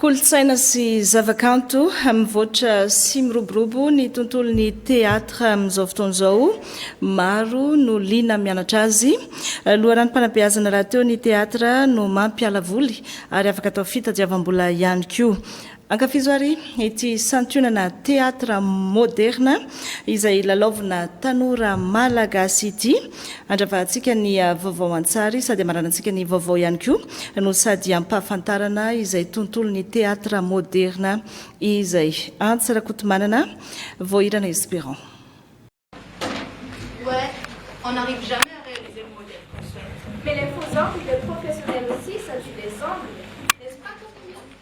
Kolontsaina sy zavakanto, Mivoatra sy miroborobo ny tontolon'ny Théâtre amin'izao fotoana izao. Maro no liana amin'ny mianatra azy. Loharanom-panabeazana rahateo ny Théâtre no mampiala voly ary afaka atao fitadiavam-bola ihany koa. Ankafizo ary ity santionana Théâtre Moderna izay lalaovina tanora Malagasy ity. Andravahantsika ny vaovao an-tsary sady amaranantsika ny vaovao ihany koa. no sady ampahafantarana izay tontolon'ny teatra moderna izay. Antsa Rakotomanana, Voahirana Esperant.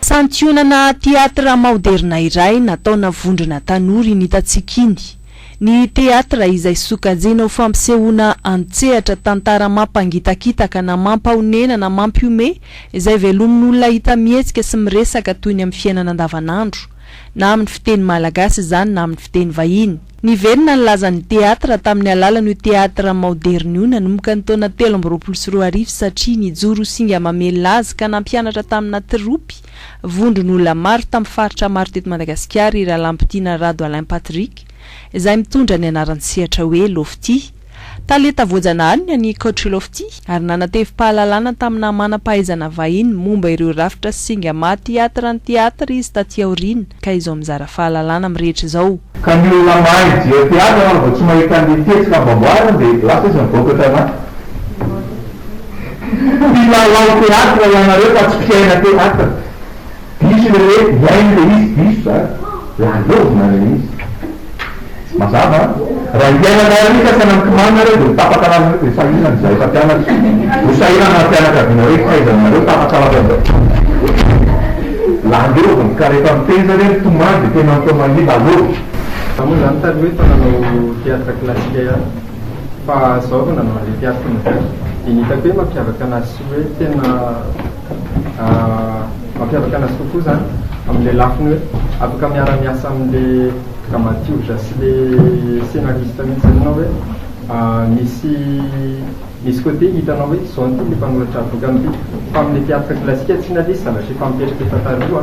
Santionana teatra maoderina iray nataona vondrona tanora iny hitantsika iny. Ny teatra izay sokajina ho fampisehoana an-tsehatra tantara mampangitakitaka na mampahonena na mampihomehy izay velomin'ny olona hita mihetsika sy miresaka toy ny amin'ny fiainana andavanandro, na amin'ny fiteny malagasy izany na amin'ny fiteny vahiny. Niverina ny lazan'ny teatra tamin'ny alalan'io teatra maoderina io nanomboka ny taona telo amby roapolo sy roa arivo satria nijoro ho singa mamelona azy ka nampianatra tamina tropy vondron'olona maro tamin'ny faritra maro teto Madagasikara i Ralampitina Rado Alain Patrick izay mitondra ny anaran-tsehatra hoe Lofty Tale ta Voajanahary ny an'i Coach Lofty ary nanatevi-pahalalana taminà manam-pahaizana vahiny momba ireo rafitra sy singa maha theatre ny theatre izy taty aoriana ka izao mizara fahalalana amin'ny rehetra izao. Ka ny olona mahay mijery theatre angamba vao tsy mahita ny fihetsika amboamboariny dia lasa izy mivoaka tanaty mpilalao theatre ianareo fa tsy mpiaina theatre. Diso le hoe hiaino le izy diso zany de handovina le izy mazava an! Raha hiainana ary ka tsy anankimanina reo de ho tapaka lava reo de sahirana izahay mpampianatra ho sahirana ny fianakaviana reo fahaizanareo tapaka lava zao landovina ka refa miteza re mitomany de tena atao mahila alou. Za moa zany taloha efa nanao théâtre classique ihany fa zao vao nanao anle théâtre moderne de ny hitako hoe mampiavaka anazy sy hoe tena Mampiavaka anazy kokoa izany amin'ilay lafiny hoe afaka miara-miasa amin'ilay dramatiorza sy ilay scenariste mihitsy izany ianao hoe misy misy côté hitanao hoe izao no tian'ity mpanoratra boky an'ity. Fa amin'ilay théâtre classique tsy inona ilay izy zavatra efa mipetrapetra taloha.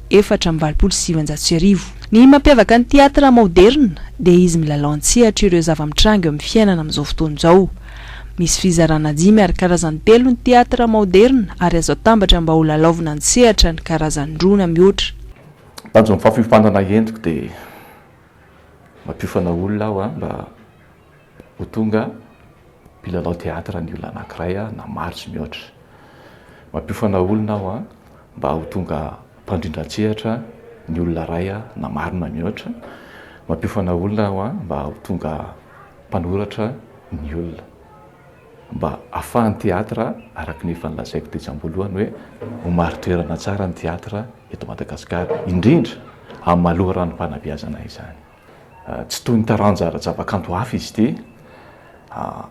efatra amby valopolo sy sivinjato sy arivo. Ny mampiavaka ny teatra maoderina dia izy milalao an-tsehatra ireo zava-mitranga eo amin'ny fiainana amin'izao fotoana izao. Misy fizarana dimy ary karazany telo ny teatra maoderina ary azo atambatra mba holalaovina an-tsehatra ny karazany roa na mihoatra. Tanjon'ny fampiofanana endriko dia mampiofana olona aho mba. ho tonga mpilalao teatra ny olona anankiray na maro sy mihoatra. Mampiofana olona aho mba ho tonga mpandrindran-tsehatra ny olona iray na maro na mihoatra. Mampiofana olona aho mba ho tonga mpanoratra ny olona, mba ahafahan'ny teatra, araka ny efa nolazaiko tetsy am-boalohany hoe ho marin-toerana tsara ny teatra eto Madagasikara, indrindra amin'ny maha loharanom-panabeazana izany. Tsy toy ny taranja ara-javakanto hafa izy ity.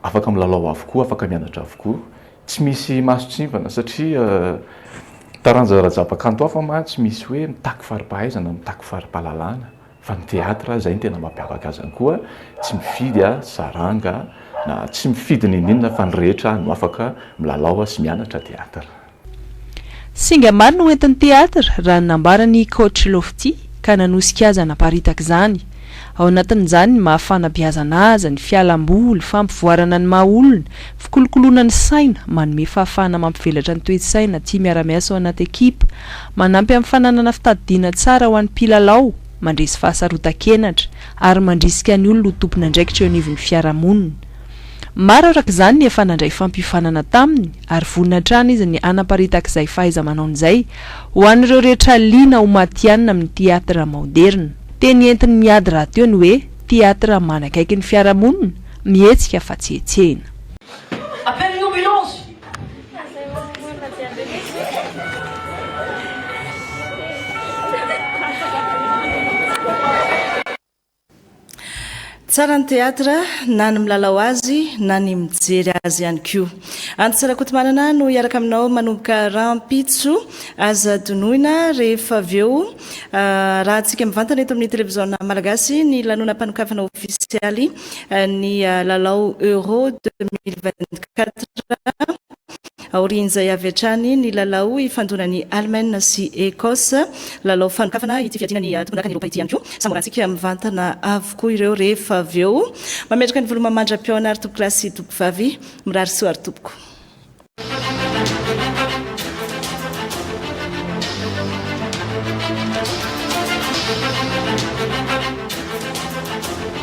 Afaka milalao avokoa, afaka mianatra avokoa. Tsy misy mason-tsivana satria taranja ara-javakanto hafa mantsy tsy misy hoe mitaky fari-pahaizana, mitaky fari-pahalalana fa ny teatra izay no tena mampiavaka azy koa tsy mifidy saranga na tsy mifidy n'inon'inona fa ny rehetra no afaka milalao sy mianatra teatra. Singa maro no hoentin'ny Theatre, raha ny nambaran'i Coach Lofty, ka nanosika azy hanaparitaka izany. Ao anatin'izany ny maha fanabeazana azy, ny fialam-boly, fampivoarana ny maha olona, fikolokoloana ny saina, manome fahafahana mampivelatra ny toe-tsaina, tia miara-miasa ao anaty ekipa, manampy amin'ny fananana fitadidiana tsara ho an'ny mpilalao, mandresy fahasarotan-kenatra, ary mandrisika ny olona ho tompon'andraikitra eo anivon'ny fiarahamonina. Maro araka izany ny efa nandray fampiofanana taminy ary vonona hatrany izy ny hanaparitaka izay fahaiza-manaony izay ho an'ireo rehetra liana ho matihanina amin'ny Theatre maoderina. Teny entin'i Miady rahateo ny hoe Theatre manakaiky ny fiarahamonina, mihetsika fa tsy hetsehina. Appelle l'ambulance! Tsara ny théâtre, na ny milalao azy na ny mijery azy ihany koa. Antsa Rakotomanana no hiaraka aminao manomboka rahampitso. Aza donoina rehefa avy eo. Arahantsika mivantana eto amin'ny televiziona Malagasy ny lanonam-panokafana ofisialy ny lalao Euro 2024. Aorian'izay avy hatrany ny lalao ifandonan'i Allemagne sy Ecosse. Lalao fanokafana ity fiadiana ny tompondakan'i Eropa ity ihany koa. Samborantsika mivantana avokoa ireo rehefa avy eo. Mametraka ny volo mamandra-pihaona ary tompokolahy sy tompokovavy. Mirary soa ary tompoko.